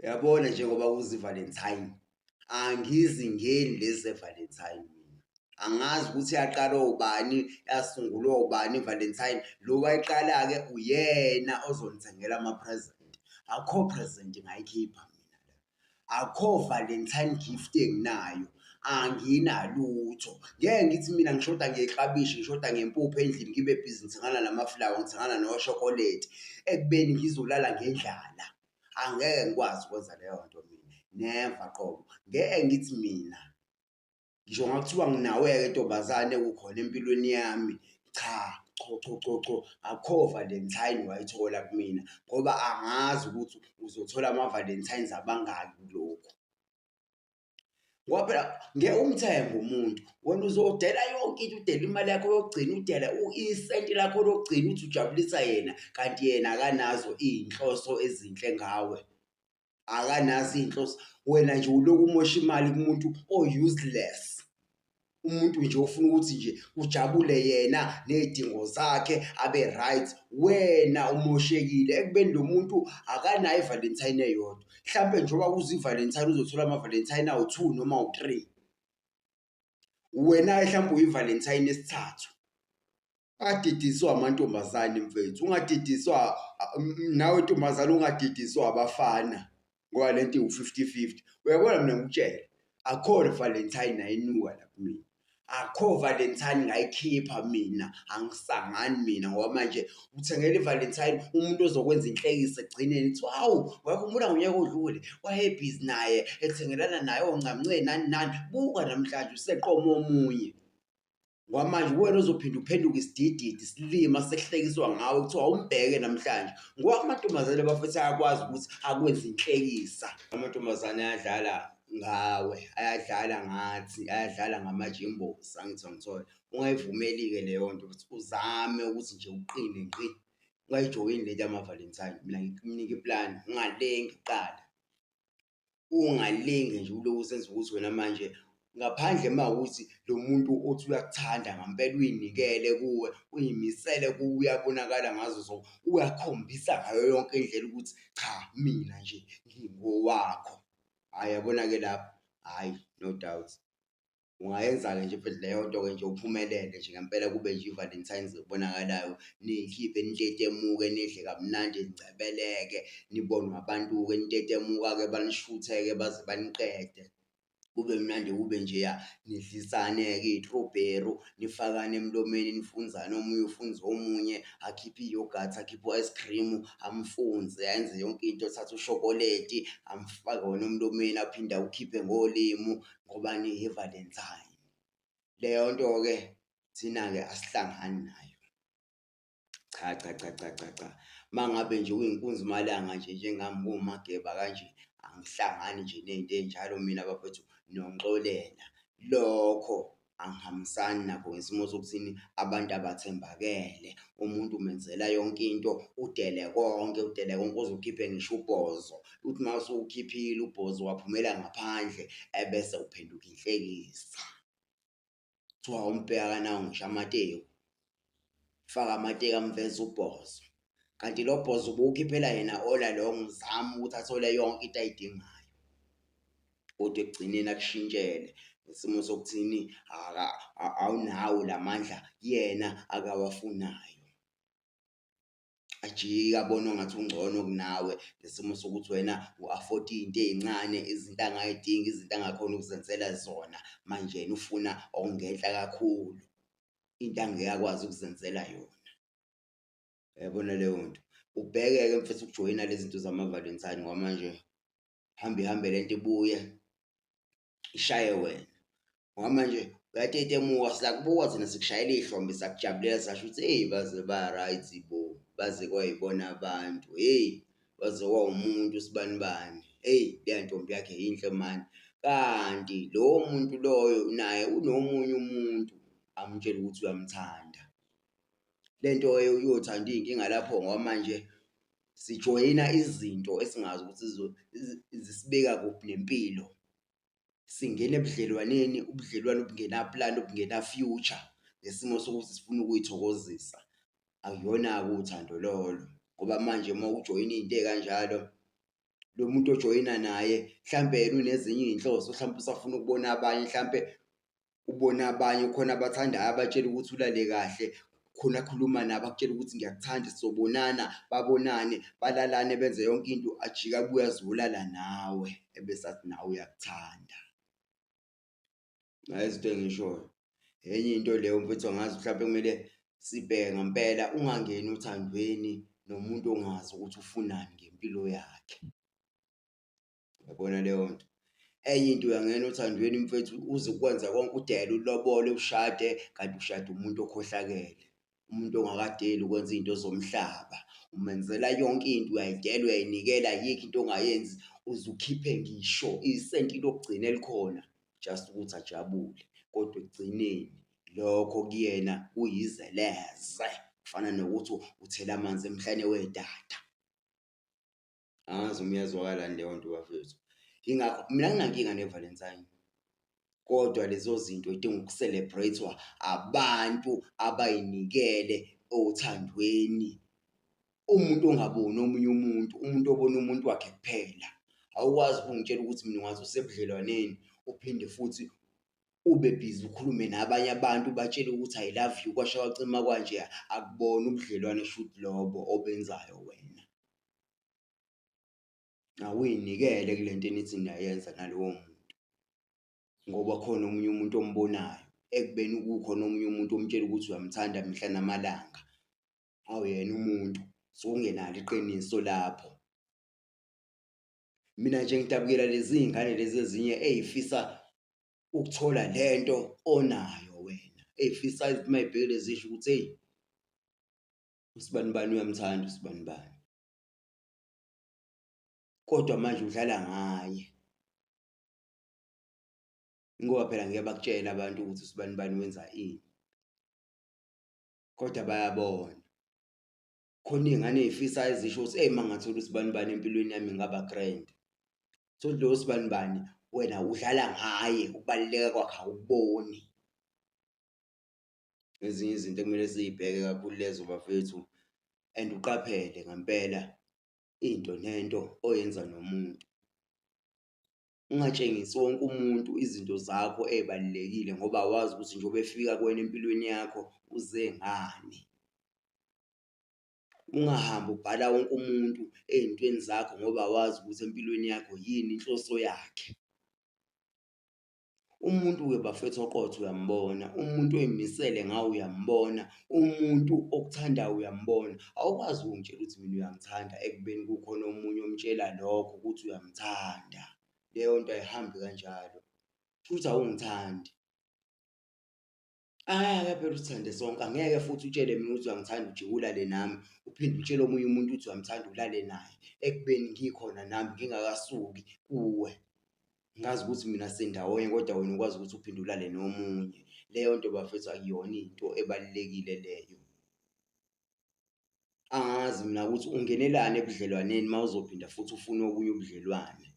Uyabona njengoba kuze iValentine, angizingeni lezi zeValentine mina. Angazi ukuthi yaqala obani, yasungulwa obani iValentine. Lo wayiqala-ke uyena ozongithengela ama-present. Akho present ngayikhipha mina la. Akho Valentine gift enginayo. Anginalutho. Ngeke ngithi mina ngishoda ngeklabishi, ngishoda ngempuphu endlini ngibe bhizi ngithengana namaflawa, ngithengana noshokoledi ekubeni ngizolala ngendlala. angeke ngikwazi ukwenza leyo nto mina never qobo ngeke ngithi mina ngisho ngakuthiwa nginawe-ke ntombazane kukhona empilweni yami cha cho cho cho cho akho valentine wayithola kumina ngoba angazi ukuthi uzothola ama-valentines abangaki kulokhu ngoba phela ngeke umthenge umuntu wena uzodela yonke into udela imali yakho yokugcina udela isenti lakho lokugcina uthi ujabulisa yena kanti yena akanazo iy'nhloso ezinhle ngawe akanazo iy'nhloso wena nje uloku umosha imali kumuntu o-useless. umuntu nje ufuna ukuthi nje ujabule yena nezidingo zakhe abe right wena umoshekile ekubeni lo muntu akanayo ivalentine eyodwa mhlampe njengoba kuze ivalentine uzothola amavalentine awu-two noma u-three wena-ke mhlawumbe uyivalentine esithathu adidiswa amantombazane mfethu ungadidiswa nawe ntombazane ungadidiswa abafana ngoba le nto iwu-fifty fifty uyabona mina ngikutshele akho valentine nayinuka la kumina akho valentine ngayikhipha mina angisangani mina ngoba manje uthengela ivalentine umuntu ozokwenza inhlekisa ekugcineni kuthiwa hawu wayekhumbula ngonyaka odlule wayebhizi naye ekuthengelana naye oncamnceni nani nani buka namhlanje useqoma omunye Kwamanje uwena ozophinde uphenduke isidididi silima sehlekiswa ngawe kuthiwa umbheke namhlanje ngoba amantombazane bafethu ayakwazi ukuthi akwenze inhlekisa amantombazane ayadlala ngawe ayadlala ngathi ayadlala ngamajimbosi angithi angithole ungayivumeli-ke leyo nto ukuthi uzame ukuthi nje uqine ngqi ungayijoyini le nto yamavalentine mina ngikunike iplani ungalengi kuqala ungalinge nje uloku usenza ukuthi wena manje ngaphandle uma ukuthi lo muntu othi uyakuthanda ngampela uyinikele kuwe uyimisele kuwe uyabonakala ngazo zonke uyakhombisa ngayo yonke indlela ukuthi cha mina nje ngingowakho hhayi yabona-ke lapho hhayi no doubt. Ungayenza-ke nje futhi leyo nto-ke nje uphumelele nje ngempela kube nje i-Valentine's ebonakalayo, niyikhiphe nitetemuke, nidle kamnandi ningcebeleke, nibonwe abantu-ke nitetemuka-ke banishuthe-ke baze baniqede. Kube mnandi kube njeya nidlisane-ke iy'trobheru, nifakane emlomeni nifunzane omunye ufunze omunye, akhiphe iyogathi, akhiphe u-ice cream, amfunze ayenze yonke into, athathe ushokoledi amfake wona emlomeni aphinde awukhiphe ngolimu. ngoba ngiyiValentine. Leyo nto-ke thina-ke asihlangani nayo. Cha, cha, cha, cha, cha, cha. Uma ngabe nje uyinkunzi malanga nje njengami ngiwumageba kanje, angihlangani nje ney'nto ey'njalo mina bafethu nongixolela. Lokho angihambisani nakho ngesimo sokuthini abantu abathembakele. Umuntu umenzela yonke into, udele konke, udele konke uze ukhiphe ngisho ubhozo. uthi uma usuwukhiphile ubhozi waphumela ngaphandle ebese uphenduka inhlekisa kuthiwa umbheka kanawo ngisho amateku faka amateku amveza ubhozo kanti lo bhozo ubuwukhiphela yena ola lowo ngizama ukuthi athole yonke into ayidingayo kodwa ekugcineni akushintshele isimo sokuthini awunawo lamandla yena akawafunayo ajike abonwa ngathi ungcono kunawe ngesimo sokuthi wena u-afford iy'nto ey'ncane izinto angay'dingi izinto angakhona ukuzenzela zona manje yena ufuna okungenhla kakhulu into angeke akwazi ukuzenzela yona yabona leyo nto ubheke-ke mfethu ukujoyina lezi zinto zama-valentine ngoba manje hambe ihambe le nto ibuye ishaye wena ngoba manje uyatetemuka silakubuka thina sikushayela iy'hlombe sakujabulela sasho ukuthi eyi baze ba-right bo baze kwayibona abantu heyi baze kwawumuntu sibani bani eyi leya ntombi yakhe yinhle mani kanti lowo muntu loyo naye unomunye umuntu amtshela ukuthi uyamthanda le nto uyothanda iy'nkinga lapho ngoba manje sijoyina izinto esingazi ukuthi zisibeka kuphi nempilo, singena ebudlelwaneni ubudlelwano obungenapulani obungena-future ngesimo sokuthi sifuna ukuyithokozisa. Akuyona-ke uthando lolo ngoba manje uma ujoyina izinto ezikanjalo lo muntu ojoyina naye mhlawumbe yena unezinye izinhloso, mhlawumbe usafuna ukubona abanye mhlawumbe ubone abanye khona abathandayo abatshela ukuthi ulale kahle, khona akhuluma nabo akutshela ukuthi ngiyakuthanda sobonana, babonane, balalane benze yonke into, ajike abuye azolala nawe ebese athi nawe uyakuthanda. Nayi izinto engiyishoyo, enye into leyo mfethu angazi mhlawumpe kumele sibheke ngampela ungangeni othandweni nomuntu ongazi ukuthi ufunani ngempilo yakhe. yabona leyo nto enye into uyangena othandweni mfethu uze ukwenza konke udele ulobole ushade kanti ushade umuntu okhohlakele umuntu ongakadeli ukwenza izinto ezomhlaba umenzela yonke into uyayidela uyayinikela ayikho into ongayenzi uze ukhiphe ngisho isenti lokugcina elikhona just ukuthi ajabule kodwa ekugcineni lokho kuyena kuyizeleze kufana nokuthi uthela amanzi emhlane wedada angazi uma iyazwakala yini leyo nto bafethu. Ingakho mina anginankinga ne-Valentine, kodwa lezo zinto zidinga uku-celebrate-wa abantu abay'nikele othandweni. Umuntu ongaboni omunye umuntu, umuntu obona umuntu wakhe kuphela. Awukwazi ukungitshela ukuthi mina ungaze usebudlelwaneni uphinde futhi ube bhizi ukhulume nabanye abantu ubatshele ukuthi I love you kwasha kwacima kwanje, akubona ubudlelwane shuthi lobo obenzayo wena. Awuy'nikele kule nto enithi niyayenza nalowo muntu ngoba khona omunye umuntu ombonayo ekubeni kukhona omunye umuntu omtshela ukuthi uyamthanda mihla namalanga. Awuyena umuntu, suke ungenalo iqiniso lapho. Mina nje ngidabukela lezi iy'ngane lezi ezinye ey'fisa ukuthola le nto onayo wena, ey'fisa uma zibhekile zisho ukuthi eyi. usibanibani uyamthanda usibanibani kodwa manje udlala ngaye ingoba phela ngeke bakutshele abantu ukuthi usibanibani wenza ini kodwa bayabona khona iy'ngane ey'fisa ezisho ukuthi eyi mangathola usibanibani empilweni yami ngaba grand so lo sibanibani wena udlala ngaye ukubaluleka kwakhe awuboni ezinye izinto ekumele siyibheke kakhulu lezo bafethu and uqaphele ngempela into nento oyenza nomuntu. Ungatshengisi wonke umuntu izinto zakho ey'balulekile ngoba awazi ukuthi njengoba efika kuwena empilweni yakho uze ngani. Ungahambi ubhala wonke umuntu ey'ntweni zakho ngoba awazi ukuthi empilweni yakho yini inhloso yakhe. Umuntu-ke bafethu oqotho uyambona, umuntu oy'misele ngawe uyambona, umuntu okuthandayo uyambona. Awukwazi ukungitshela ukuthi mina uyangithanda ekubeni kukhona omunye omtshela lokho ukuthi uyamthanda. Leyo nto ayihambi kanjalo, kushuthi awungithandi. Angeke phela usithande sonke, angeke futhi utshele mina ukuthi uyangithanda ujike ulale nami, uphinde utshele omunye umuntu ukuthi uyamthanda ulale naye, ekubeni ngikhona nami ngingakasuki kuwe. Ngazi ukuthi mina sindawonye kodwa wena ukwazi ukuthi uphinde ulale nomunye. Leyo nto bafethu akuyona into ebalulekile leyo. angazi mina ukuthi ungenelani ebudlelwaneni uma uzophinda futhi ufune obunye ubudlelwane.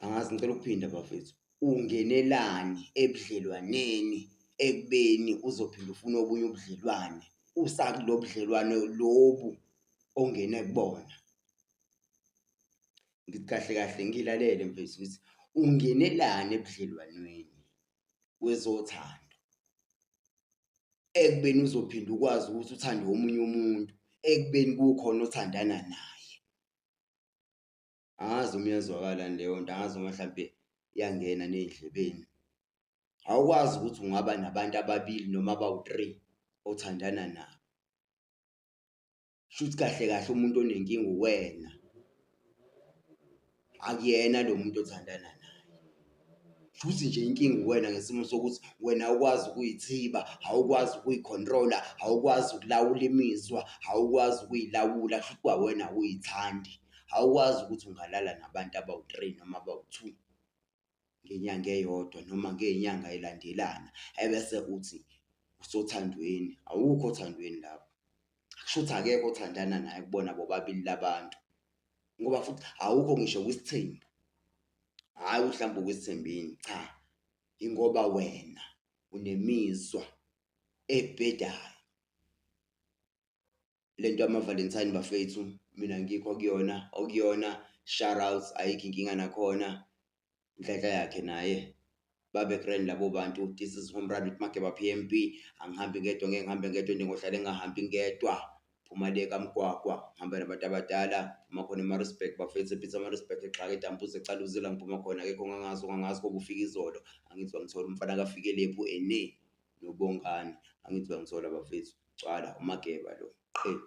Angazi ngicela ukuphinda bafethu, ungenelani ebudlelwaneni ekubeni uzophinde ufune obunye ubudlelwane usakulo budlelwane lobu ongene kubona? Ngithi kahle kahle ngilalele mfethu ukuthi ungenelani ebudlelwaneni wezothando ekubeni uzophinda ukwazi ukuthi uthande omunye umuntu ekubeni kukhona othandana naye angazi uma iyazwakala leyo nto angazi uma mhlampe iyangena ney'ndlebeni awukwazi ukuthi ungaba nabantu ababili noma abawu-three othandana nabo shuthi kahle kahle umuntu onenkinga uwena akuyena lo muntu othandana naye futhi nje inkinga uwena ngesimo sokuthi wena awukwazi ukuyithiba awukwazi ukuyikhontrola awukwazi ukulawula imizwa awukwazi ukuyilawula futhi kwawena uyithandi awukwazi ukuthi ungalala nabantu abawu-three noma abawu-two ngenyanga eyodwa noma ngey'nyanga ey'landelana ebese uthi usothandweni, awukho othandweni lapho. Kushuthi akekho othandana naye kubona bobabili labantu ngoba futhi awukho ngisho kwisithembu, hhayi ukuthi mhlawumbe ukwisithembile, cha ingoba wena unemizwa ebhedayo. lento yama Valentine bafethu mina ngikho kuyona okuyona shoutouts ayikho inkinga nakhona inhlanhla yakhe naye babe grand labo bantu this is home run with Mageba PMB angihambi ngedwa ngeke ngihambe ngedwa njengohlale ngahambi ngedwa phuma le kamgwagwa ngihamba nabantu abadala phuma khona eMaritzburg bafethu ePeter Maritzburg exhaka edambuza ecala uzila ngiphuma khona akekho ngangazi ongangazi kobe ufika izolo angizwa ngithola umfana kaFikelephu ene noBongani angithi bangithola bafethu gcwala uMageba lo qhelu.